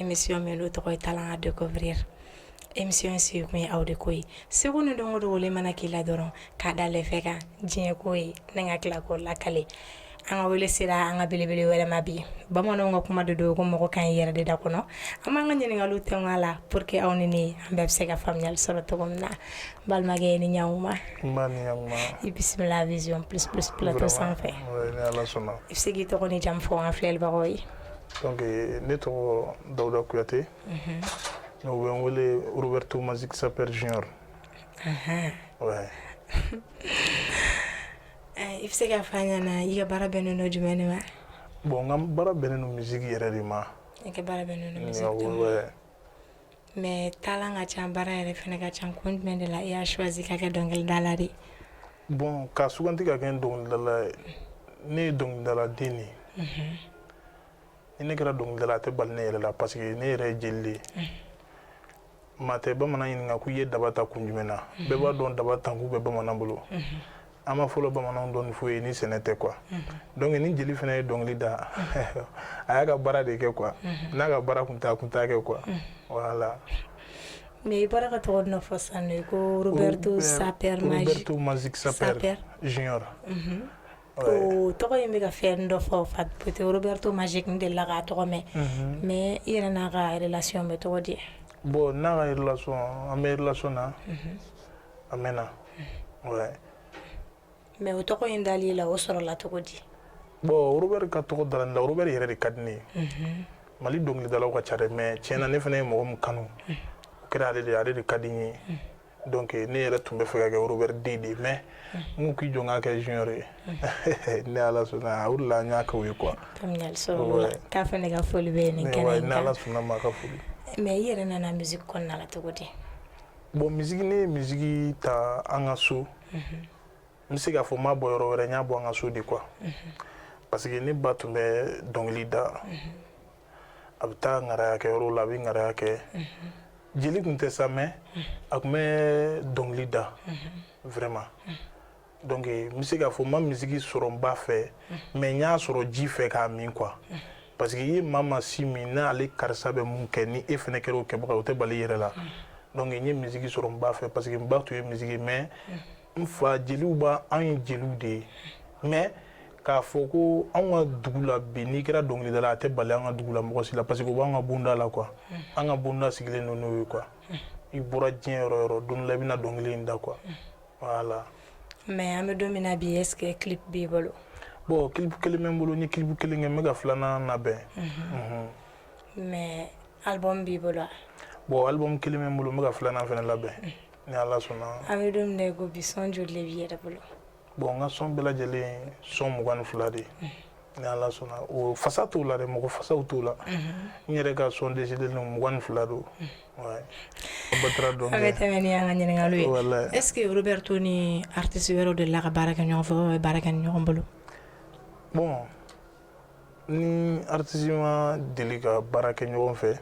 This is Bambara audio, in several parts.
émission min n'o tɔgɔ ye Talent à découvrir émission in sigi kun ye aw de ko ye seko ni dɔnko dogolen mana k'i la dɔrɔn k'a da lɛfɛ kan diɲɛ k'o ye ni ka tila k'o lakale an ka wele sera an ka belebele wɛrɛ ma bi bamananw ka kuma de don ko maa ko ka ɲi yɛrɛ de da kɔnɔ an b'an ka ɲininkaliw tɛngun a la pour que aw ni ne an bɛɛ bɛ se ka faamuyali sɔrɔ cogo min na n balimakɛ i ni ɲankuma N ba ni ɲakuma. i bisimila vision plus plus plateau Vraiment, sanfɛ oui, ni Ala sɔnna. i bɛ se k'i tɔgɔ ni jamu fɔ an filɛlibagaw ye Donc euh, ne tɔgɔ Dawuda Kuyate. Unhun. N'u bɛ n wele Roberto Magic Sapeur Junior. Ahan. Ouais. Ɛ i bɛ se k'a fɔ an ɲɛna i ka baara bɛnnen don jumɛn de ma? Bon n ka baara bɛnnen don musique yɛrɛ de ma. I ka baara bɛnnen don musique de ma. Awɔ ouais. Mais talent ka ca baara yɛrɛ fana ka ca kun jumɛn de la i y'a choisie ka kɛ dɔnkilidala de ye? Bon ka sugandi ka kɛ dɔnkilidala ye, ne ye dɔnkilidala den de ye, unhun, ni ne kɛra dɔnkilidala a tɛ bali ne yɛrɛ la parce que ne yɛrɛ ye jeli de ye, unhun, maa tɛ bamanan ɲininka ko i ye daba ta kun jumɛn na, unhun, bɛɛ b'a dɔn daba ta kun bɛ bamanan bolo, unhun. an ma fɔlɔ bamananw dɔn foyi ye ni sɛnɛ tɛ quoi mhm. donc ni jeli fana ye dɔnkili da mhm. a y'a ka baara de kɛ quoi mhm. n'a ka baara kun t'a kun t'a kɛ quoi voilà mais i bɔra ka tɔgɔ dɔ fɔ sisan de ko Roberto sapeur Roberto Magic Sapeur Junior o tɔgɔ in bɛ ka fɛn dɔ fɔ peut-être Roberto Magic n delila k'a tɔgɔ mɛn mais i yɛrɛ n'a ka relation bɛ cogo di bon n'a ka relation an bɛ relation na a mɛnna mais o tɔgɔ in dalen i la o sɔrɔla cogo di bon Robert ka tɔgɔ da n na Robert yɛrɛ de ka di n ye Mali dɔnkilidalaw ka ca dɛ mais tiɲɛ na ne fana ye mɔgɔ min kanu kɛra ale de ale de ka di n ye donc ne yɛrɛ tun b'a fɛ ka kɛ Robert den de mais n'u k'i jɛn ka kɛ junior ye ni Ala sɔnna o la n y'a kɛ o ye quoi k'a fana ka foli bɛ ala ma ka foli mais i yɛrɛ nana misiki kɔnɔna cogo di bon misiki ne ye misiki ta an ka so n bɛ se k'a fɔ n m'a bɔ yɔrɔ wɛrɛ n y'a bɔ an ka so de quoi parce que ne ba tun bɛ dɔnkili da a bɛ taa ŋaraya kɛ yɔrɔ la a bɛ ŋaraya kɛ jeli tun tɛ sa mais a tun bɛ dɔnkili da vraiment donc n bɛ se k'a fɔ n ma misiki sɔrɔ n ba fɛ mais n y'a sɔrɔ ji fɛ k'a min quoi parce que i ye maa maa sin min n'ale karisa bɛ mun kɛ ni e fana kɛra o kɛbaga o tɛ bali i yɛrɛ la donc n ye misiki sɔrɔ n ba fɛ parce que n ba tun ye misiki mais n fa jeliw b'a anw ye jeliw de ye mais k'a fɔ ko anw ka dugu la bi n'i kɛra dɔnkilidala a tɛ bali an ka dugu la mɔgɔ si la parce que o b'an ka bonda la quoi an ka bonda sigilen don n'o ye quoi i bɔra diɲɛ yɔrɔ o yɔrɔ don dɔ la i bɛna dɔnkili in da quoi voilà mais an bɛ don min na bi est-ce que clip b'i bolo bon clip kelen bɛ n bolo n ye clip kelen kɛ n bɛ ka filanan labɛn mais album b'i bolo bon album kelen bɛ n bolo n bɛ ka filanan fana labɛn ni ala sɔnna an bɛ don min na i ko bi son joli le b'i yɛrɛ bolo bon n ka son bɛɛ lajɛlen son mugan ni fila de ye ni ala sɔnna o fasa t'u la dɛ mɔgɔ fasaw t'u la n yɛrɛ ka son décidé ninnu mugan ni fila don baasi t'a la donc an bɛ tɛmɛ ni an ka ɲininkaliw ye voilà est-ce que roberto ni aritisi wɛrɛ delila ka baara kɛ ɲɔgɔn fɛ o bɛ baara kɛ ni ɲɔgɔn bolo bon ni aritisi ma deli ka baara kɛ ɲɔgɔn fɛ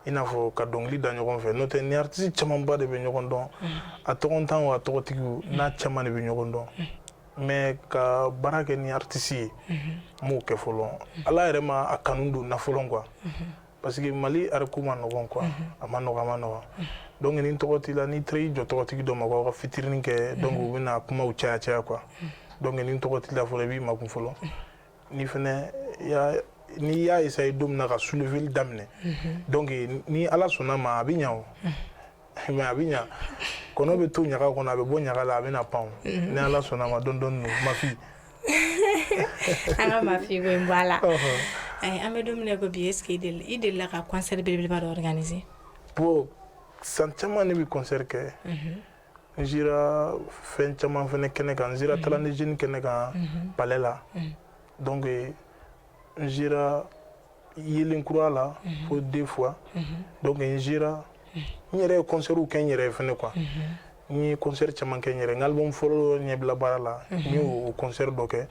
i n'a fɔ ka dɔnkili da ɲɔgɔn fɛ n'o tɛ ni aritisi camanba de bɛ ɲɔgɔn dɔn a tɔgɔntan wo a tɔgɔtigiw n'a caman de bɛ ɲɔgɔn dɔn mais ka baara kɛ ni aritisi ye n m'o kɛ fɔlɔ ala yɛrɛ ma a kanu don n na fɔlɔ quoi parce que mali art ko man nɔgɔ quoi a man nɔgɔ a man nɔgɔ donc ni tɔgɔ t'i la n'i taara i jɔ tɔgɔtigi dɔ ma ka featuring kɛ donc u bɛna kumaw caya caya quoi donc ni tɔgɔ t'i la fɔlɔ i b'i makun fɔlɔ n'i fana n'i y'a essayer don min na ka souleveli daminɛ mhm. donc ni ala sɔnna ma a bɛ ɲa o mhm. mais a bɛ ɲa kɔnɔ bɛ to ɲaga kɔnɔ a bɛ bɔ ɲaga la a bɛna pan o mhm. ni ala sɔnna ma dɔɔni dɔɔni don mafi an ka mafi ko in bɔ a la an bɛ don min na i ko bi est-ce que i delila ka concert belebeleba dɔ organiser bon san caman ne bɛ concert kɛ n sera fɛn caman fana kɛnɛ kan n sera talent jeune kɛnɛ kan palais la donc n sera yelen kura la fo deux fois donc n sera n yɛrɛ ye concert kɛ n yɛrɛ ye fana quoi n ye concert caman kɛ n yɛrɛ n album fɔlɔ ɲɛbila baara la n ye o concert dɔ kɛ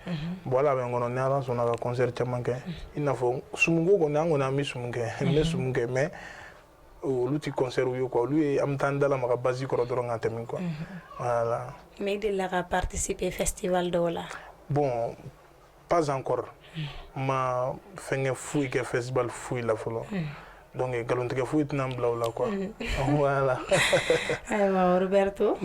bon ala bɛ n kɔnɔ ni ala sɔnna ka concert caman kɛ i n'a fɔ sumu ko kɔni an kɔni an bɛ sumu kɛ n bɛ sumu kɛ mais olu tɛ concertw ye quoi olu ye an bɛ taa an da lamaga basi kɔrɔ dɔrɔn ka tɛmɛ quoi voilà mais i delila ka participer festival dɔw la bon pas encore n ma fɛnkɛ foyi kɛ festival foyi la fɔlɔ donc nkalontigɛ foyi tɛna n bila o la quoi voilà ayiwa roberto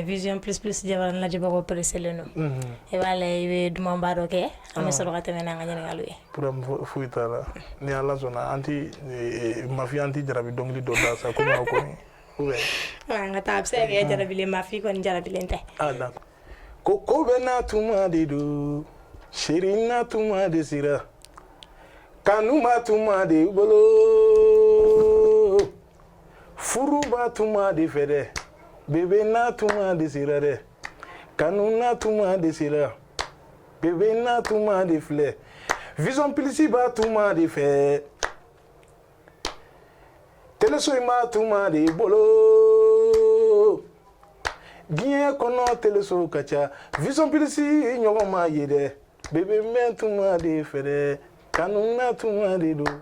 vision plus plus jabaran lajɛbagaw pereselen don e b'a la i bɛ dumanba dɔ kɛ an bɛ sɔrɔ ka tɛmɛ n' an ka ɲininkaliw ye problème foyi t'a la ni ala sɔnna an ti mafi an ti jarabi dɔnkili dɔ da sa komi aw kɔni an ka taa a bɛ se ka kɛ jarabilen mafi kɔni jarabilen tɛ ko ko bɛɛ n'a tuma de don chérie n'a tuma de sera kanu b'a tuma de bolo furu b'a tuma de fɛ dɛ bébé n'a tuma de sera dɛ kanu n'a tuma de sera bebe n'a tuma de filɛ vision pilisi b'a tuma de fɛ teleso in b'a tuma de bolo diɲɛ kɔnɔ teleso ka ca vision pilisi ɲɔgɔn ma ye dɛ bebe bɛ tuma de fɛ dɛ kanu na tuma de don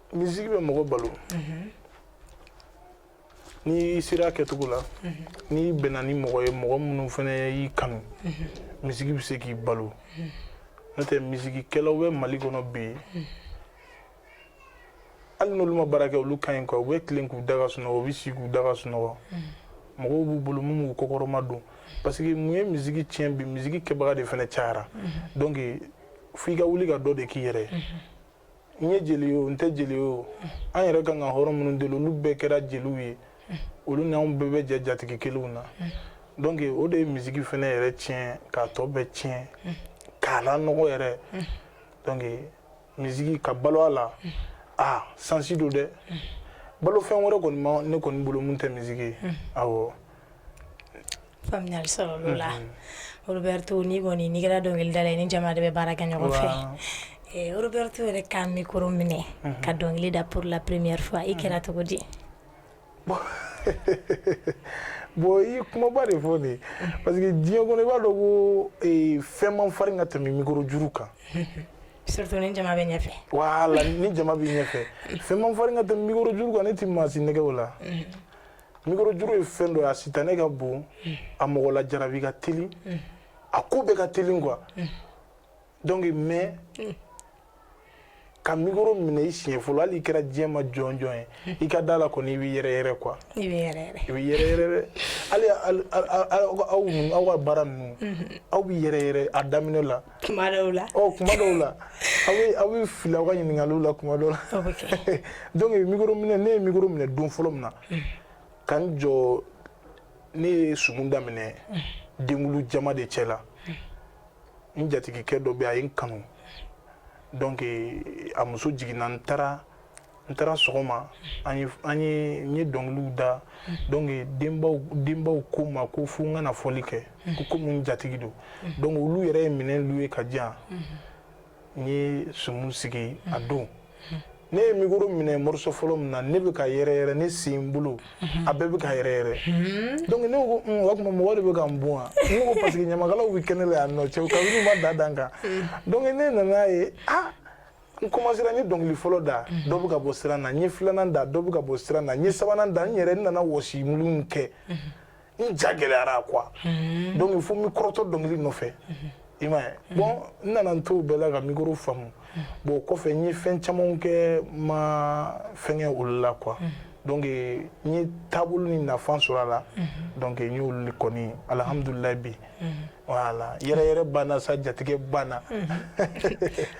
misiki bɛ mɔgɔ balo n'i sera kɛcogo la n'i bɛnna ni mɔgɔ ye mɔgɔ minnu fana y'i kanu misiki bɛ se k'i balo n'o tɛ misikikɛlaw bɛ mali kɔnɔ bi hali n'olu ma baara kɛ olu ka ɲi u bɛ tilen k'u da ka sunɔgɔ u bɛ si k'u da ka sunɔgɔ mɔgɔw b'u bolo minnu b'u kɔkɔrɔma don parce que mun ye misiki tiɲɛ bi misiki kɛbaga de fana cayara donc f'i ka wuli ka dɔ de k'i yɛrɛ ye n ye jeli ye o n tɛ jeli ye o an yɛrɛ kan ka hɔrɔn minnu deli olu bɛɛ kɛra jeliw ye olu ni anw bɛɛ bɛ jɛ jatigi kelenw na donc o de ye misiki fana yɛrɛ tiɲɛ k'a tɔ bɛɛ tiɲɛ k'a lanɔgɔ yɛrɛ donc misiki ka balo a la a sansi don dɛ balofɛn wɛrɛ kɔni ma ne kɔni bolo min tɛ misiki ye awɔ Faamuyali sɔrɔla o la roberto n'i kɔni n'i kɛra dɔnkilidala ye i ni jama de bɛ baara kɛ ɲɔgɔn fɛ roberto yɛrɛ ka mikɔrɔ minɛ ka dɔnkili da pour la première fois i kɛra cogo di bon i kumaba de fɔ nin parce que diɲɛ kɔnɔ i b'a dɔn ko fɛn man farin ka tɛmɛ mikɔrɔ juru kan surtout ni jama bɛ ɲɛfɛ voilà ni jama bɛ ɲɛfɛ fɛn man farin ka tɛmɛ mikɔrɔ juru kan ne tɛ maa si nɛgɛn o la mikorojuru ye fɛn dɔ ye a sitanɛ ka bon a mɔgɔ lajarabi ka teli a ko bɛɛ ka teli quoi donc mais ka mikoro minɛ i siɲɛ fɔlɔ hali i kɛra diɲɛ ma jɔn jɔn ye i ka d'a la kɔni i bɛ yɛrɛyɛrɛ quoi i bɛ yɛrɛyɛrɛ i bɛ yɛrɛyɛrɛ dɛ hali aw ninnu aw ka baara ninnu aw bɛ yɛrɛyɛrɛ a daminɛ la kuma dɔw la ɔ oh, kuma dɔw la aw bɛ aw bɛ fili aw ka ɲininkaliw la kuma dɔw la donc mikoro minɛ ne ye mikoro minɛ don fɔlɔ min na mm. ka n jɔ ne ye sumu daminɛ mm. denkunli jama de cɛ la mm. n jatigikɛ dɔ bɛ a ye n kanu donc a muso jiginna n taara n taara sɔgɔma an ye an ye n ye dɔnkiliw da donc denbaw denbaw ko n ma ko fo n ka na fɔli kɛ ko komi n jatigi don donc olu yɛrɛ ye minɛn luwe ka di yan n ye sumu sigi a don ne ye mikoro minɛ moriso fɔlɔ min na ne bɛ ka yɛrɛyɛrɛ ne sen bolo a bɛɛ bɛ ka yɛrɛyɛrɛ donc ne ko o tuma mɔgɔ de bɛ ka n bon wa ne ko parce que ɲamakalaw bɛ kɛnɛ la yan nɔ cɛw kabini u ma da dan kan donc ne nana ye ah n kɔmasera n ye dɔnkili fɔlɔ da mhm. dɔ bɛ ka bɔ siran na n ye filanan da dɔ bɛ ka bɔ siran na n ye sabanan da n yɛrɛ n nana wɔsi mulu kɛ mhm. n ja gɛlɛyara quoi mhm. donc fo n bɛ kɔrɔtɔ dɔnkili nɔfɛ i m'a ye bon n nana n t'o bɛɛ la ka mikoro faamu bon o kɔfɛ n ye fɛn camanw kɛ ma fɛnkɛ olu la quoi donc n ye taabolo ni nafa sɔrɔ a la donc n y'olu kɔni alihamudulilayi bi voilà yɛrɛyɛrɛ banna sa jatigɛ banna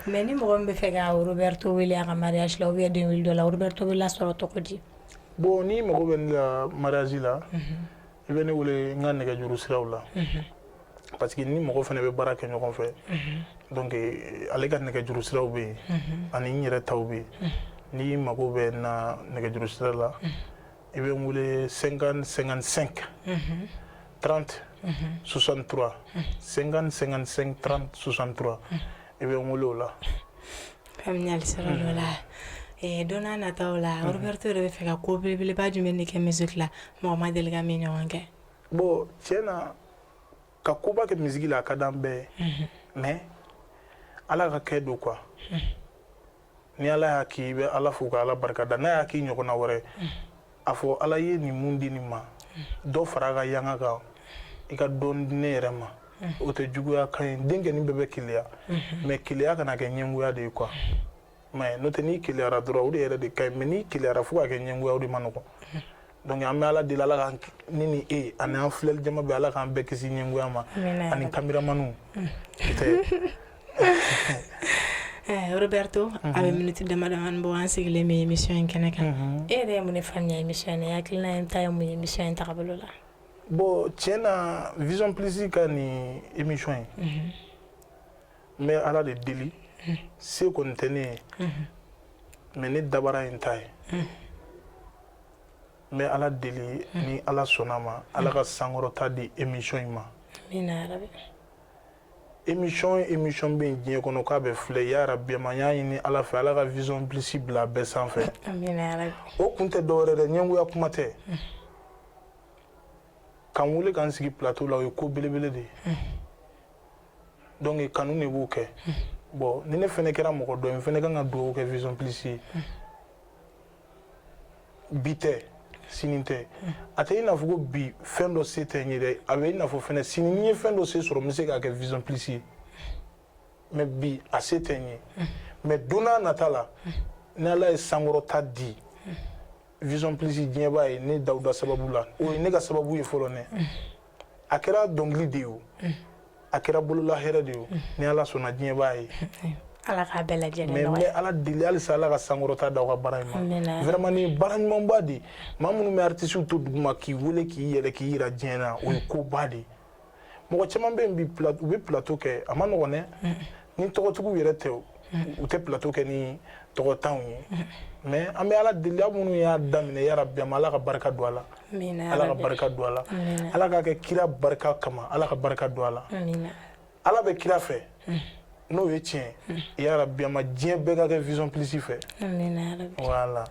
mais ni mɔgɔ min bɛ fɛ ka Roberto wele a ka mariage la ou bien den wele dɔ la Roberto bɛ lasɔrɔ cogo di bon n'i mago bɛ ne la mariage la i bɛ ne wele n ka nɛgɛjuru siraw la parce que ni mɔgɔ fana bɛ baara kɛ ɲɔgɔn fɛ donc ale ka nɛgɛjuru siraw bɛ yen ani n yɛrɛ taw bɛ yen n'i mago bɛ n na nɛgɛjuru sira la i bɛ n wele senkan senkan sen tranti susantura senkan senkan sen tan susantura i bɛ n wele o la la don nata la yɔrɔto de bɛ fɛ ka ko belebeleba jumɛn bɛ kɛ misi la mɔgɔ ma deli min ɲɔgɔn kɛ bon cɛ na ka koba kɛ misi la a ka di an bɛɛ mɛ ala ka kɛ don qu ni ala y'a k'i bɛ ala fo ka ala barika da n'a y'a k'i ɲɔgɔnna wɛrɛ a fɔ ala ye nin mun di nin ma dɔ fara a ka yanga kan i ka dɔ di ne yɛrɛ ma o tɛ juguya kan ye denkɛnin bɛɛ bɛ keleya mais keleya kana kɛ ɲɛngoya de ye quoi mais n'o tɛ n'i keleyara dɔrɔn o de yɛrɛ de ka ɲi mais n'i keleyara fo ka kɛ ɲɛngoya o de ma nɔgɔn donc an bɛ ala deli ala ka ne ni e ani an filɛli jama bɛɛ ala k'an bɛɛ kisi ɲɛngoya ma ani kameramaniw mm. eh, roberto a bɛ mhm. miniti damadamani bɔ an sigilen bɛ émission in kɛnɛ kan mhm. e yɛrɛ ye mun de faamuya émission in na i hakilina in ta ye mun ye émission in tagabolo la bon tiɲɛ na vision plus ka nin émission in mhm. n bɛ ala de deli se kɔni tɛ ne ye mais ne dabara in ta ye n bɛ ala deli ni ala sɔnna ma ala ka sankɔrɔta di émission in ma émission émission bɛ yen diɲɛ kɔnɔ k'a bɛ filɛ yarabi n b'a ɲini ala fɛ ala ka vision plus bila bɛɛ sanfɛ o kun tɛ dɔwɛrɛ dɛ ɲɛngoya kuma tɛ k'an wele k'an sigi plateau la o ye ko belebele de ye donc kanu de b'o kɛ bon ni ne fɛnɛ kɛra mɔgɔ dɔ ye n fɛnɛ kan ka dugawu kɛ vision plus ye bi tɛ sini tɛ a tɛ i n'a fɔ ko bi fɛn dɔ se tɛ n ye dɛ a bɛ i n'a fɔ fɛnɛ sini ni n ye fɛn dɔ se sɔrɔ n bɛ se k'a kɛ vision plus ye mais bi a se tɛ n ye mais don n'a nata la ni ala ye sankɔrɔta di vision plus diɲɛ b'a ye ne dawuda sababu la o ye ne ka sababu ye fɔlɔ nɛ a kɛra dɔnkili de ye o a kɛra bolola hɛrɛ de ye o ni ala sɔnna diɲɛ b'a ye ala k'a bɛɛ lajɛlen mais n bɛ ala deli halisa ala ka sankɔrɔta d'aw ka baara in ma vraiment nin baara ɲumanba de maa minnu bɛ artisiw to duguma k'i wele k'i yɛlɛ k'i yira diɲɛ na o ye koba de mɔgɔ caman bɛ yen bi u bɛ plateau kɛ a ma nɔgɔn dɛ ni tɔgɔtigiw yɛrɛ tɛ u tɛ plateau kɛ ni tɔgɔtanw ye mais an bɛ ala deli aw minnu y'a daminɛ yarabi ma ala ka barika don a la ala ka barika don a la ala k'a kɛ kira barika kama ala ka barika don a la ala bɛ kira fɛ n'o ye tiɲɛ yarabi ma diɲɛ bɛɛ ka kɛ vision plus fɛ voilà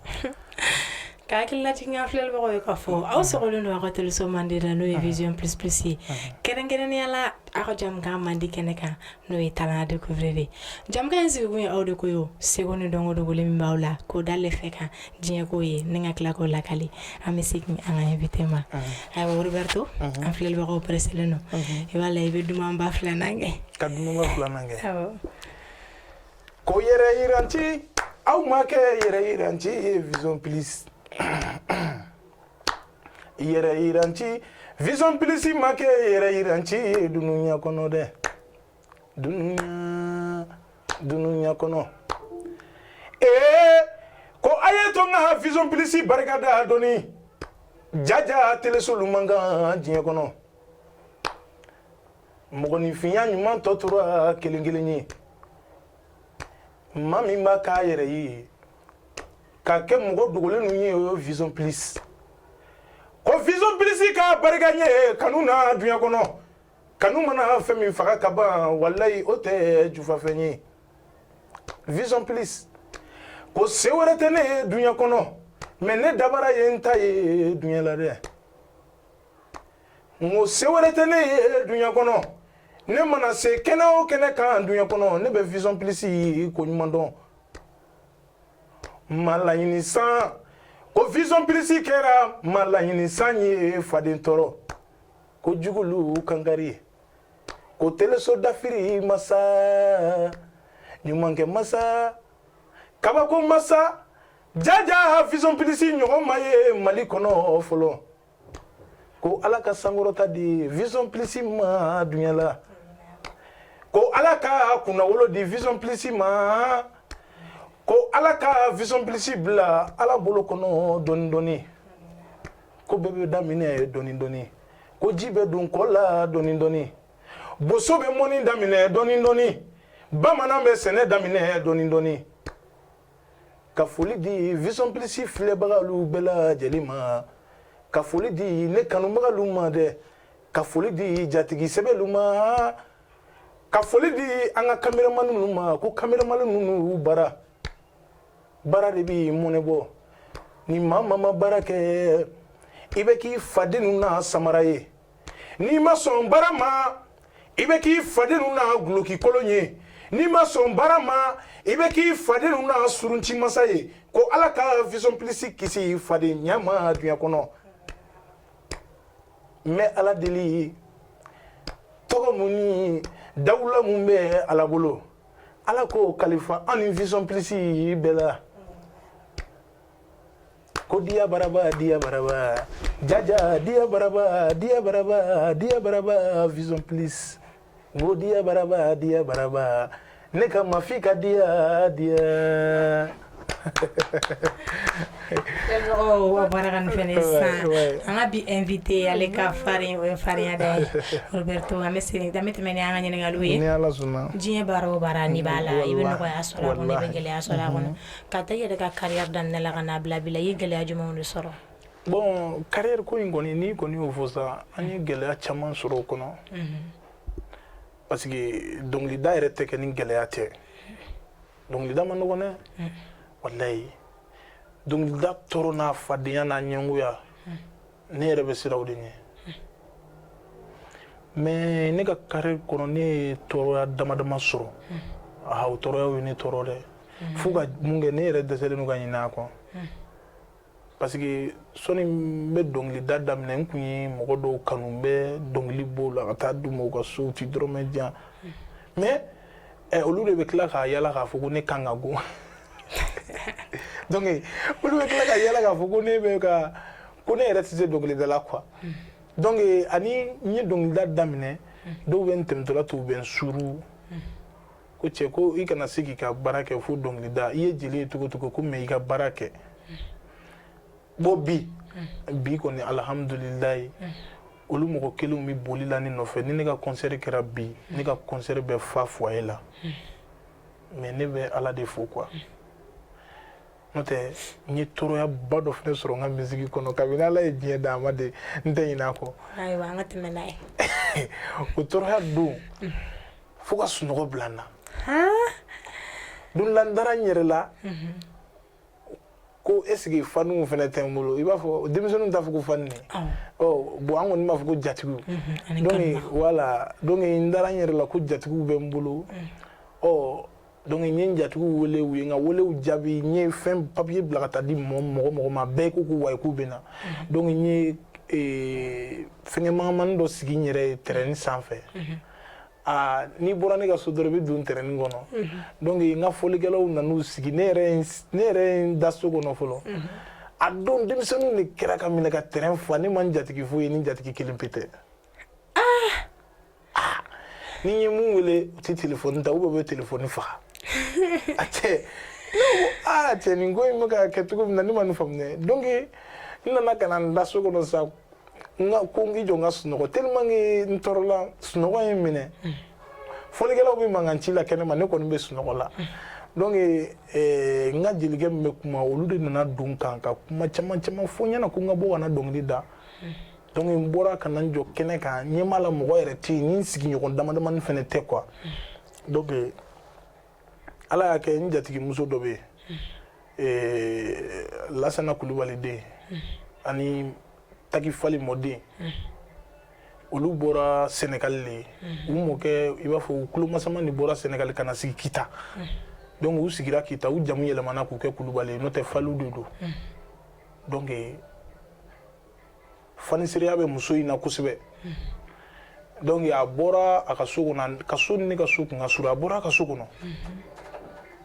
Ka hakililajigin an filɛbagaw ye k'a fɔ aw sɔgɔlen don aw ka teleso mandi la n'o ye vision plus ye kɛrɛnkɛrɛnnenya la aw ka jamukan mandi kɛnɛ kan n'o ye talent à découvrir ye jamukan in sigikun ye aw de ko ye seko ni dɔnko dogolen min b'aw la k'o da lɛfɛ kan diɲɛ k'o ye ni ka tila k'o lakali an bɛ segin an ka invité ma ayiwa roberto an filɛbagaw presselen don i b'a la i bɛ dumanba filanan kɛ ka kɛ ko yɛrɛ yiranci aw ma kɛ yɛrɛ yiranci ye vision plus yɛrɛ yiranci vision plus ma kɛ yɛrɛ yiranci ye dunuya kɔnɔ dɛ dunuya kɔnɔ ee ko a ye to n ka vision plus barika da dɔɔni jaja telesolu man kan diɲɛ kɔnɔ mɔgɔninfinya ɲuman tɔ tora kelen kelen ye maa min b'a k'a yɛrɛ ye ka kɛ mɔgɔ dogolen ninnu ye o ye vision plus ko vision plus ka barika ye kanu na duɲa kɔnɔ kanu mana fɛn min faga ka ban walayi o tɛ jufafɛn ye vision plus ko se wɛrɛ tɛ ne ye duɲa kɔnɔ mais ne dabara ye n ta ye duɲa la dɛ n ko se wɛrɛ tɛ ne ye duɲa kɔnɔ ne mana se kɛnɛ o kɛnɛ kan duɲa kɔnɔ ne bɛ vision plus ko ɲuman dɔn ma laɲini san ko vision plus kɛra ma laɲini san ye faden tɔɔrɔ ko jugulu kankari ko teleso dafiri masa ɲumankɛ masa kabako masa jaja vision plus ɲɔgɔn ma ye mali kɔnɔ fɔlɔ ko ala ka sankɔrɔta di vision plus ma dunya la ko ala ka kunnawolo di vision plus ma ko ala ka vision plus bila ala bolo kɔnɔ dɔɔni dɔɔni ko bɛɛ bɛ daminɛ dɔɔni dɔɔni ko ji bɛ don kɔ la dɔɔni dɔɔni boso bɛ mɔni daminɛ dɔɔni dɔɔni bamanan bɛ sɛnɛ daminɛ dɔɔni dɔɔni ka foli di vision plus filɛbagalu bɛɛ lajɛlen ma ka foli di ne kanubagalu ma dɛ ka foli di jatigi sɛbɛlu ma ka foli di an ka kameramani ninnu ma ko kameramani ninnu y'u bara baara de b'i mɔnɛ bɔ ni maa maa ma baara kɛ i bɛ k'i fadennu na samara ye n'i ma sɔn baara ma i bɛ k'i fadennu na duloki kolon ye n'i ma sɔn baara ma i bɛ k'i fadennu na surunci masa ye ko ala ka vision plus kisi fadenya ma duniya kɔnɔ n bɛ ala deli tɔgɔ min ni dawula min bɛ ala bolo ala k'o kalifa an ni vision plus bɛɛ la ko diya baraba diya baraba jaja diya baraba diya baraba diya baraba vision plus n ko diya baraba diya baraba ne ka mafi ka diya diya o baarakan fɛnɛ sisan an ka bi invité ale ka farin o ye farinya da ye Roberto an bɛ segin an bɛ tɛmɛ ni an ka ɲininkaliw ye ni Ala sɔnna diɲɛ baara o baara n'i b'a la i bɛ nɔgɔya sɔrɔ a kɔnɔ i bɛ gɛlɛya sɔrɔ a kɔnɔ k'a ta i yɛrɛ ka carrière daminɛ la ka n'a bila bi la i ye gɛlɛya jumɛn de sɔrɔ bon carrière ko in kɔni n'i kɔni y'o fɔ sa an ye gɛlɛya caman sɔrɔ o kɔnɔ parce que dɔnkilida yɛrɛ tɛ kɛ ni gɛlɛya tɛ dɔnkilida man nɔgɔn dɛ walayi dɔnkilida tɔɔrɔ n'a fadenya n'a ɲɛngoya ne yɛrɛ bɛ siran o de ɲɛ mais ne ka carrière kɔnɔ ne ye tɔɔrɔya damadama sɔrɔ aa o tɔɔrɔyaw ye ne tɔɔrɔ dɛ fo ka mun kɛ ne yɛrɛ dɛsɛlen don ka ɲinɛ a kɔ parce que sɔni n bɛ dɔnkilida daminɛ n kun ye mɔgɔ dɔw kanu n bɛ dɔnkili b'o la ka taa d'u ma u ka so u ti dɔrɔmɛ di yan mais ɛ olu de bɛ tila k'a yala k'a fɔ ko ne kan ka go donc olu bɛ tila k'a yala k'a fɔ ko ne bɛ ka ko ne yɛrɛ tɛ se dɔnkilida la quoi donc ani n ye dɔnkilida daminɛ dɔw bɛ n tɛmɛtɔla to u bɛ n suru ko cɛ ko i kana se k'i ka baara kɛ fo dɔnkilida i ye jeli ye cogo cogo ko mais i ka baara kɛ bon bi bi kɔni alihamudulilayi olu mɔgɔ kelenw bɛ boli la ne nɔfɛ ni ne ka kɔnsɛri kɛra bi ne ka kɔnsɛri bɛ fa foyer la mais ne bɛ ala de fo quoi n'o tɛ n ye tɔɔrɔyaba dɔ fana sɔrɔ n ka misiki kɔnɔ kabini ala ye diɲɛ da ma de n tɛ ɲinɛ a kɔ o tɔɔrɔya don fo ka sunɔgɔ bila n na don la n dara n yɛrɛ la ko est-ce que fanuw fana tɛ n bolo i b'a fɔ denmisɛnninw t'a fɔ ko fani ɔ bon an kɔni b'a fɔ ko jatigiw mhm, donc voilà donc n dara n yɛrɛ la ko jatigiw bɛ n bolo mhm. ɔ donc n ye n jatigiw wele u ye n ka welew jaabi n ye fɛn papier bila ka taa di mɔgɔ mɔgɔ mɔgɔ ma bɛɛ ko ko wayi k'u bɛ na mhm. donc n ye e, fɛngɛ mangamani dɔ sigi n yɛrɛ ye terrain sanfɛ aa n'i bɔra ne ka so dɔrɔn i bɛ don terrain kɔnɔ donc n ka fɔlikɛlaw nan'u sigi ne yɛrɛ ne yɛrɛ ye n da so kɔnɔ fɔlɔ a don denmisɛnninw de kɛra ka minɛ ka terrain fa ne ma n jatigi foyi ye ni jatigi kelen pe tɛ ni n ye min wele u tɛ telefɔni ta ou bien u bɛ telefɔni faga a cɛ ne ko aa cɛ nin ko in bɛ ka kɛ cogo min na ne ma nin faamu dɛ donc n nana ka na n da so kɔnɔ sa n ka ko n k'i jɔ n ka sunɔgɔ tellement que n tɔɔrɔla sunɔgɔ ye n minɛ fɔlikɛlaw bɛ mankan ci la kɛnɛma ne kɔni bɛ sunɔgɔ la donc eh, n ka jelikɛ min bɛ kuma olu de nana don n kan ka kuma caman caman fɔ n ɲɛna ko n ka bɔ ka na dɔnkili da donc n bɔra ka na n jɔ kɛnɛ kan ɲɛ b'a la mɔgɔ yɛrɛ tɛ yen ni n sigiɲɔgɔn damadamani fana tɛ quoi donc eh, ala y'a kɛ n jatigimuso dɔ bɛ yen lasana kulubali den ani taki fali mɔden olu bɔra sénégal de ye u mɔkɛ i b'a fɔ u tulomasama ni bɔra sénégal ka na sigi kita donc u sigira kita u jamu yɛlɛmana k'u kɛ kulubali ye n'o tɛ faliw de don donc fanisireya bɛ muso in na kosɛbɛ donc a bɔra a ka so kɔnɔ ka so ni ne ka so kun ka surun a bɔra a ka so kɔnɔ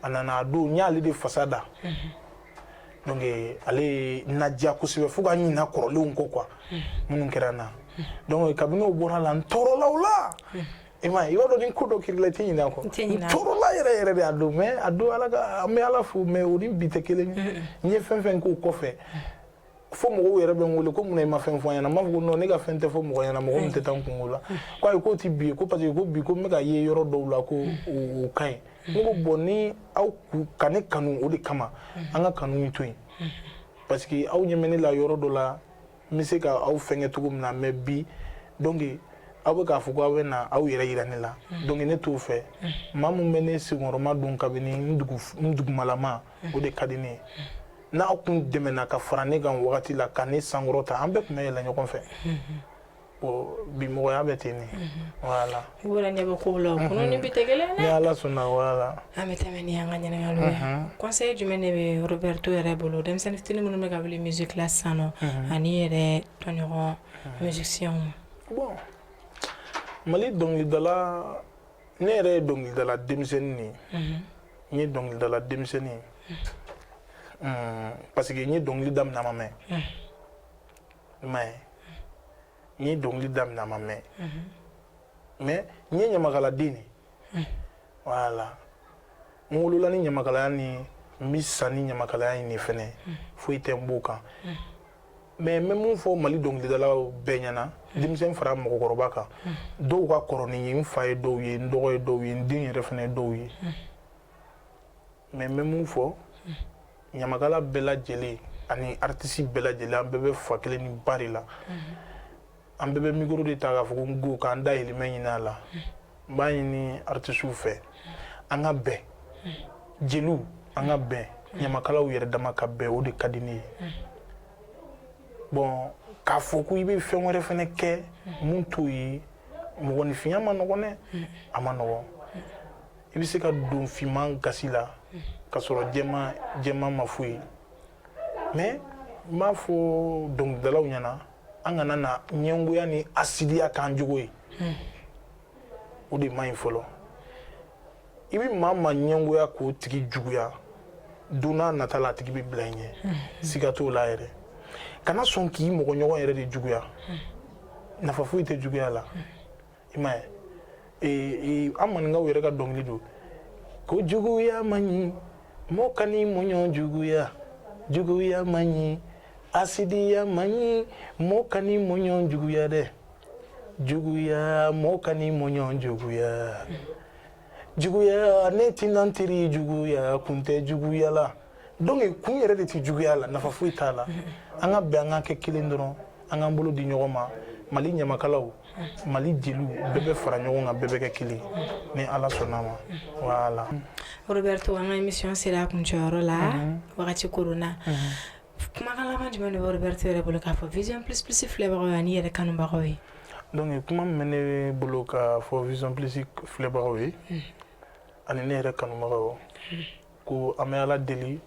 a nana a don n y'ale de fasa da donc ale ye n ladiya kosɛbɛ fo ka ɲina kɔrɔlenw kɔ quoi minnu kɛra n na donc kabini o bɔr'a la n tɔɔrɔla o la i m'a ye i b'a dɔn ni ko dɔ kɛr'i la i tɛ ɲinɛ a kɔ n tɔɔrɔla yɛrɛ yɛrɛ de a don mais a don ala ka an bɛ ala fo mais o ni bi tɛ kelen ye n ye fɛn fɛn k'o kɔfɛ fo mɔgɔw yɛrɛ bɛ n wele ko munna i ma fɛn fɔ an ɲɛna n b'a fɔ ko non ne ka fɛn tɛ fɔ mɔgɔ ɲɛna mɔgɔ min tɛ taa n kunko la ko ayi k'o tɛ bi ye ko parce que ko bi ko n bɛ ka ye yɔrɔ dɔw la ko o ka ɲi ne ko bon ni aw ka ne kanu o de kama an ka kanu in to yen parce que aw ɲɛ bɛ ne la yɔrɔ dɔ la n bɛ se ka aw fɛnkɛ cogo min na mais bi donc aw bɛ k'a fɔ ko aw bɛ na aw yɛrɛ yira ne la donc ne t'o fɛ maa min bɛ ne senkɔrɔmadon kabini n dugumalama o de ka di ne ye n'aw kun dɛmɛna ka fara ne kan wagati la ka ne sankɔrɔta an bɛɛ tun bɛ yɛlɛ ɲɔgɔn fɛ bi mɔgɔya bɛ ten ne voilà i bɔra ɲɛ bɛ kow la kunu ni bi tɛ kelen dɛ ni ala sɔnna voilà an bɛ tɛmɛ ni an ka ɲininkaliw ye conseil jumɛn de bɛ roberto yɛrɛ bolo denmisɛnnin fitinin minnu bɛ ka wuli musique la sisan nɔ ani i yɛrɛ tɔɲɔgɔn musiciens bon mali dɔnkilidala ne yɛrɛ ye dɔnkilidala denmisɛnnin de ye mhm. n ye dɔnkilidala denmisɛnnin ye mhm. parce que n ye dɔnkili daminɛ a ma mɛn mhm. i m'a ye n ye dɔnkili daminɛ a ma mɛn mais n ye ɲamakaladen de voilà n wolola ni ɲamakalaya ni n bɛ sa ni ɲamakalaya in de fɛnɛ foyi tɛ n b'o kan mais n bɛ mun fɔ Mali dɔnkilidalaw bɛɛ ɲɛna hmm. denmisɛn fara mɔgɔkɔrɔba kan hmm. dɔw ka kɔrɔ ni n ye n fa ye dɔw ye n dɔgɔ ye dɔw ye n den yɛrɛ fana ye dɔw ye hmm. mais n bɛ mun fɔ ɲamakala bɛɛ lajɛlen ani artiste bɛɛ lajɛlen an bɛɛ bɛ fa kelen ni ba de la an bɛɛ bɛ micro de ta k'a fɔ ko n go k'an dahirimɛ ɲini a la n b'a ɲini artisiw fɛ an ka bɛn jeliw an ka bɛn ɲamakalaw yɛrɛ dama ka bɛn o de ka di ne ye bon k'a fɔ ko i bɛ fɛn wɛrɛ fana kɛ mun t'o ye mɔgɔninfinya ma nɔgɔn dɛ a ma nɔgɔn i bɛ se ka don finman gasi la ka sɔrɔ jɛman ma foyi mɛn n b'a fɔ dɔnkilidalaw ɲɛna an kana na ɲɛngoya ni asidiya k'an jogo ye hmm. o de man ɲi fɔlɔ i bɛ maa maa ɲɛngoya k'o tigi juguya don n'a nata la a tigi bɛ bila i ɲɛ hmm. siga t'o la yɛrɛ kana sɔn k'i mɔgɔɲɔgɔn yɛrɛ de juguya hmm. nafa foyi tɛ juguya la i m'a ye an maninkaw yɛrɛ ka dɔnkili don ko juguya man ɲi mɔgɔ kan'i mɔɲɔ juguya juguya man ɲi asidiya man ɲi mɔgɔ kan'i mɔɲɔ juguya dɛ juguya mɔgɔ kan'i mɔɲɔ juguya juguya ne tɛna n teri juguya kun tɛ juguya la donc kun yɛrɛ de tɛ juguya la nafa foyi t'a la an ka bɛn an ka kɛ kelen dɔrɔn an k'an bolo di ɲɔgɔn ma Mali ɲamakalaw Mali jeliw bɛɛ bɛ fara ɲɔgɔn kan bɛɛ bɛ kɛ kelen ni ala sɔnna ma voilà Roberto an ka émission sera a kuncɛyɔrɔ la wagati koronna kumakan laban jumɛn de bɛ Roberto yɛrɛ bolo k'a fɔ Vision Plus Plus filɛbagaw ye an'i yɛrɛ kanubagaw ye? Donc kuma min bɛ ne bolo k'a fɔ Vision Plus filɛbagaw ye ani ne yɛrɛ kanubagaw ko an bɛ Ala deli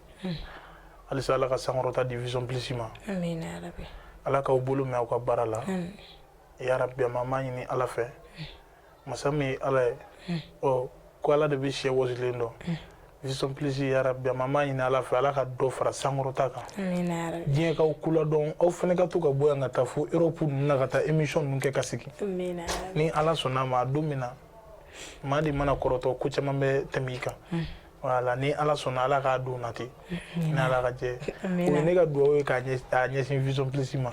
halisa Ala ka sankɔrɔta di Vision Plus ma. Amina yarabi. Ala k'aw bolo mɛn aw ka baara la. Amina. Yarabi an b'a ɲini Ala fɛ masa min ye ala ye ɔ ko ala de bɛ sɛ wɔsilen dɔn Vision Plus yarabi an b'a ɲini ala fɛ ala ka dɔ fara sankɔrɔta kan diɲɛ k'aw kula dɔn aw fana ka to ka bɔ yan ka taa fo Europe ninnu na ka taa émission ninnu kɛ ka segin ni ala sɔnna ma a don min na maa de mana kɔrɔtɔ ko caman bɛ tɛmɛ i kan voilà ni ala sɔnna ala k'a don nati ni ala ka jɛ o ye ne ka dugawu ye k'a ɲɛsin Vision Plus ma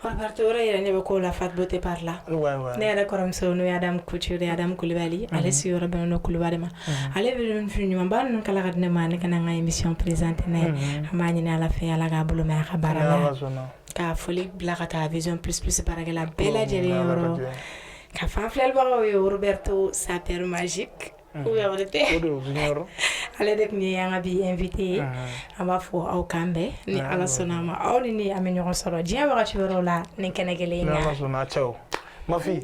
Roberto yɛrɛ ne bɛ ko la Fat Beauté par là ne yɛrɛ kɔrɔmuso n'o ye Adam Couture Adam kulubali ale sigiyɔrɔ bɛn kulubali ma ale bɛ fini ɲumanba ninnu kala ka di ne ma ne ka n ka émission présenter n'a ye an b'a ɲini ala fɛ ala k'a bolo mɛn a ka baara la ka foli bila ka taa Vision Plus Plus baarakɛla bɛɛ lajɛlen yɔrɔ k'a f'an filɛbagaw ye Roberto Sapeur Magique ale de tun ye an ka bi invité ye an b'a fɔ aw k'an bɛn ni ala sɔnna a ma aw ni ne an bɛ ɲɔgɔn sɔrɔ diɲɛ wagati wɛrɛ la nin kɛnɛ kelen in kan mafin